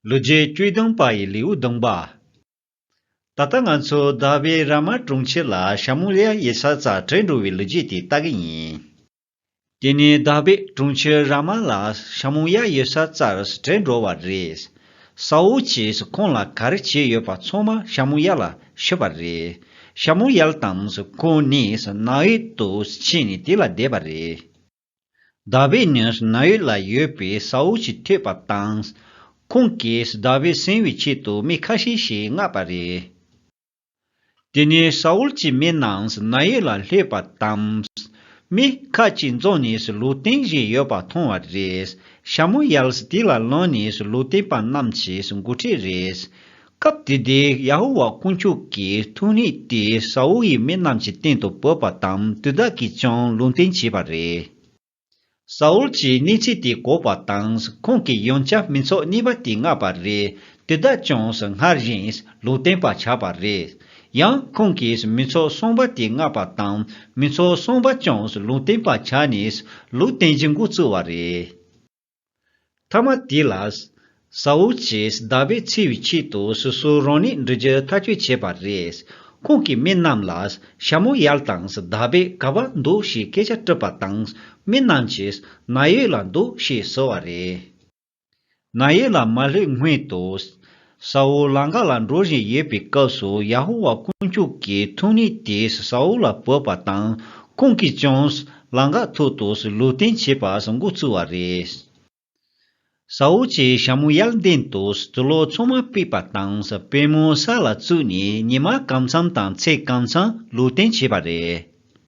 ལུས་རྗེས་དཀྱུས་སྡོང་པ་ཡི་ལེའུ་སྡོང་པ། ད་ལྟ་ང་ཚོ་ཟླ་བའི་ར་མ་གྲོང་ཁྱེར་ལ་ཞྭ་མོ་ལེ་ཡ་ཡེ་ས་ཙ་དྲེད་འགྲོ་བའི་ལུས་རྗེས་དེ་ལྟ་གི་ཡིན། དེ་ནས་ཟླ་བའི་གྲོང་ཁྱེར་ར་མ་ལ་ཞྭ་མོ་ཡ་ཡེ་ས་ཙར་དྲེད་འགྲོ་བ་རེད། ས་འོག་ཅེས་ཁོང་ལ་ག་རེ་བྱས་ཡོད་པ་ཚང་མ་ཞྭ་མོ་ཡ་ལ་ཤོད་པ་རེད། ཞྭ་མོ་ཡལ་དང་ཁོང་ནི་ནགས་དབྱིབས་དུ་ཕྱིན་ནས་དེ་ལ་བསྡད་པ་རེད། ཟླ་བའི་ནིར་ན་ཡུལ་ལ་ཡོད་པའི་ས་འོག་གི་ཐོད་པ་དང། ཁོང་གིས་ཟླ་བས་གཟེང་བའི་ཆེད་དུ་མི་ཁ་ཤས་ཤིག་མངགས་པ་རེད། དེ་ནས་ས་འོག་གི་མི་རྣམས་ན་ཡུལ་ལ་སླེབས་པ་དང། མི་ཁ་ཅིག་རྫོང་ནས་ལུས་སྟེང་བཞིན་ཡོད་པ་མཐོང་བ་རེད། ཞྭ་མོ་ཡལ་ཏེ་ལ་ལོན་ནས་ལུས་སྟེང་པ་རྣམས་ཀྱིས་འགུལ་ཁྲིད་རེད། སྐབས་དེ་དུས་ཡ་ཧོ་ཝཱ་དཀོན་མཆོག་གི་ཐུགས་ནུས་དེ་ས་ཨོལ་གྱི་མི་རྣམས་ཀྱི་སྟེང་དུ་བབས་པ་དང་དུས་བདག་གིས་ཀྱང་ལུང་བསྟན་བྱས་པ་རེད། ས་ཨོལ་གྱིས་གནས་ཚུལ་དེ་གོ་བ་དང་ཁོང་གི་ཡོན་བྱ་མི་ཚོགས་གཉིས་པ་དེ་མངགས་པ་རེད། དུས་བདག་ཀྱང་སྔར་བཞིན་ལུང་བསྟན་པ་བྱ་བ་རེད། ཡང་ཁོང་གིས་མི་ཚོགས་གསུམ་པ་དེ་མངགས་པ་དང་མི་ཚོགས་གསུམ་པ་ཀྱང་ལུང་བསྟན་པ་བྱ་ནས་ལུས་རྟེན་གྱི་མགོ་བཙུགས་བ་རེད། ཐ་མ་དེ་ལ། ཟ་འུ་ཅེས་བདག་པས་འཚེ་བའི་ཆེད་དུ་སོ་སོའི་རང་ནུས་འབྲི་རྒྱུ་ཐག་གཅོད་བྱས་པ་རེད། ཁོང་གིས་མི་རྣམས་ལ་ཞྭ་མོ་ཡར་དང་བདག་པས་ག་བར་འདུག་ཞེས་སྐད་ཆ་དཀྲི་བ་དང་མི་རྣམས་ཀྱིས་ན་ཡོད་ལ་འདུག་ཞེས་ཟེར་བ་རེད། ན་ཡོད་ལ་མ་ལྷོད་སྔོན་དུ། ས་ཨུལ་ལངྒ་ལ་འགྲོ་བཞིན་ཡོད་པའི་སྐབས་སུ་ཡ་ཧུ་བྷ་དཀོན་མཆོག་གི་ཐུགས་ཉིད་དེས་ས་ཨུལ་ལ་བོས་པ་དང་ཁོང་གིས་ཀྱང་ལངྒ་ཐོག་ཏུ་ལུས་སྟེན་བྱེད་པར་མགོ་ཚུགས་བ་རེད། ས་ཨུལ་གྱིས་ཞྭ་མོ་གཡག་གདན་དུ་ཟུ་ལོག་ཚོང་མ་སྤེལ་པ་དང་པད་མོའི་ས་ལ་བཙུགས་ནས་ཉི་མ་གང་འཚམས་དང་ཚེས་གང་འཚམས་ལུས་སྟེན་བྱེད་པ་རེད།